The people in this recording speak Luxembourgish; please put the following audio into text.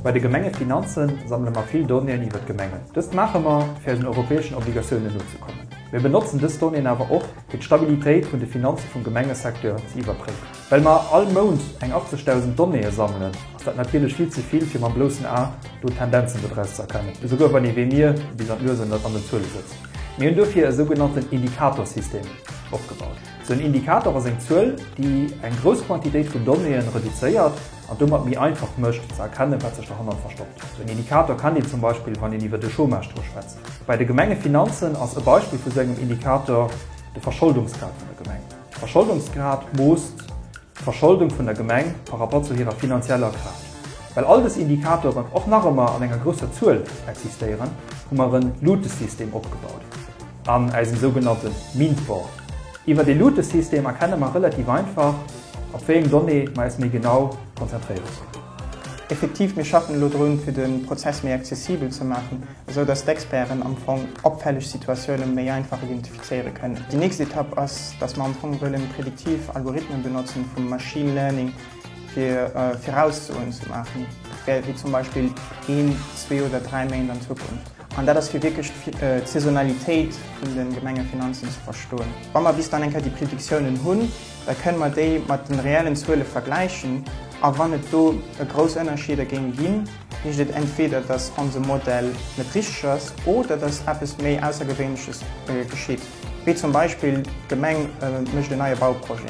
Bei de Gemengefinanze sammele mer vill Donnéeën iwwer d'Gemengen. Dëst maache mer, fir eisen europäeschen Obligatiounen nozekommen. Mir benotzen dës Donnéeën awer och, fir d'Stabilitéit vun de Finanze vum Gemengesecteur ze iwwerpréiwen. Well mer all Mount eng 80.000 Donnéeë sammelen, ass dat natierlech vill ze vill, fir mam bloussen A do Tendenzen dodraus ze erkennen, esouguer wann ee wéi mir bis an d'Nues an den Zuele sëtzt. Mir hunn dofir e sougenannten Indikatorsystem opgebaut. Den Indikator ass eng Zuel, déi eng grouss Quantitéit vun Donnéeën reduzéiert an domat méi einfach mécht, ze erkennen, wat sech derhannert verstoppt. Esou en Indikator kennt een zum Beispill, wann een iwwer de Chômage-Taux schwätzt. Bei de Gemengefinanzen ass e Beispill vu sou engem Indikator de Verscholdungsgrad vun der Gemeng. De Verscholdungsgrad moosst d'Verscholdung vun der Gemeng par rapport zu hirer finanzieller Kraaft. Well all dës Indikatoren och nach ëmmer an enger grousser Zuel existéieren, hu mer en Lutesystem opgebaut. An eisem sougenannte Mindboard. Iwwer dee Lutesystem erkenne mer relativ einfach, op wéi eng Donnée mer äis méi genau konzentréiere sollen. Effektiv, mir schaffen elo drun, fir de Prozess méi accessibel ze maachen, esou dass d'Experten am Fong opfälleg Situatioune méi einfach identifizéiere kënnen. Déi nächst Etapp ass, dass mer am Fong wëllen prediktiv Algorithmen benotzen vum Machine Learning, fir Viraussoen ze maachen, wéi zum Beispill een, zwee oder dräi Méint an Zukunft. An dat ass fir wierklech d'Saisonalitéit vun de Gemengefinanzen ze verstoen. Wa mer bis dann eng Kéier déi Predictiounen hunn, da kënne mer déi mat de reellen Zuele vergläichen. A wann et do grouss Ënnerscheeder géing ginn, heescht et entweder, datt onse Modell net richteg ass oder datt eppes méi Aussergewéinleches geschitt, wéi zum Beispill d'Gemeng mécht en neie Bauprojet.